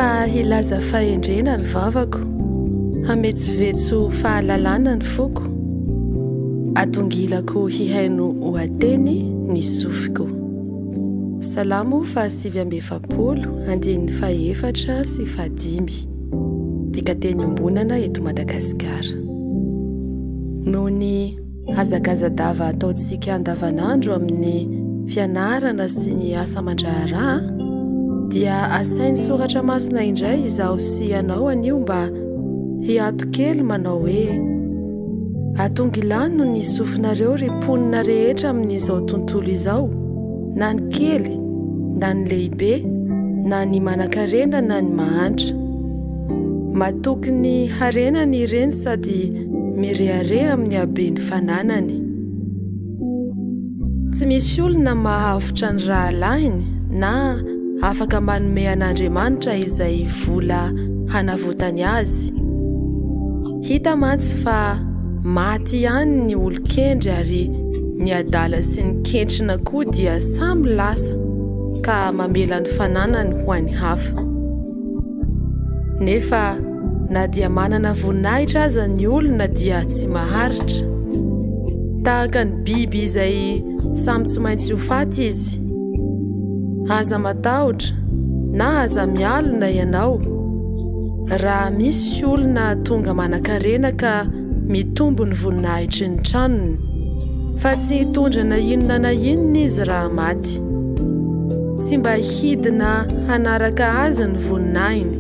Fa hilaza fahendrena ny vavako, hametsovetso fahalalana ny foko, atongilako hihaino ohateny ny sofiko. Salamo fahasivy amby efapolo, andininy fahefatra sy fahadimy. Dikateny iombonana eto Madagasikara. Noho ny Hazakazadava ataontsika andavanandro amin'ny fianarana sy ny asa aman-draharaha dia asain'ny soratra masina indray izaho sy ianao anio mba hiato kely manao hoe atongilano ny sofinareo ry mponina rehetra amin'izao tontolo izao na ny kely na ny lehibe na ny manakarena na ny mahantra matoky ny harenany ireny sady Mirehareha amin'ny haben'ny fananany. Tsy misy olona mahavotra ny rahalahiny na afaka manome an'Andriamanitra izay vola hanavotany azy. Hita mantsy fa maty ihany ny olon-kendry ary ny adala sy ny kentrina koa dia samy lasa ka mamela ny fananany ho an'ny hafa. Nefa na dia manana voninahitra aza ny olona dia tsy maharitra. Tahaka ny biby izay samy tsy maintsy ho faty izy. Aza matahotra na aza mialona ianao raha misy olona tonga manan-karena ka Mitombo ny voninahitry ny tranony, fa tsy hitondra na inona na inona izy raha maty. Tsy mba hidina hanaraka azy ny voninahiny.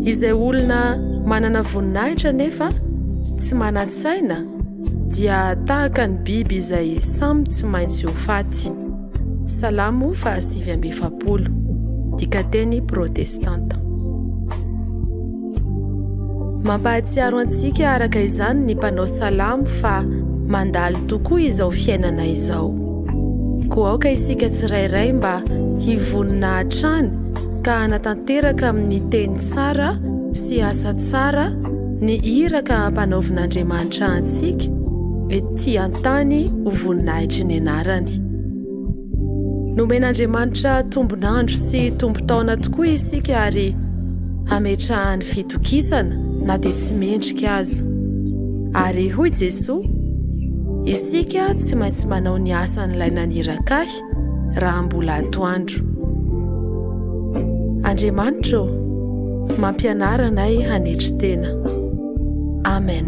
Izay olona manana voninahitra nefa tsy manan-tsaina dia tahaka ny biby izay samy tsy maintsy ho faty. Salamo fahasivy amby efapolo, dikateny protestanta. Mampahatsiaro antsika araka izany ny mpanao salamo fa mandalo tokoa izao fiainana izao. Koa aoka isika tsirairay mba hivonona hatrany ka hanatanteraka amin'ny teny tsara sy asa tsara ny iraka ampanaovin'Andriamanitra antsika ety an-tany ho voninahitry ny anarany. Nomen'Andriamanitra tombon'andro sy tombon-taona tokoa isika ary hametrahany fitokisana na dia tsy mendrika aza. Ary hoy Jesoa, isika tsy maintsy manao ny asan'ilay naniraka ahy raha mbola atoandro. Andriamanitra ô, mampianara anay hanetry tena. Amen.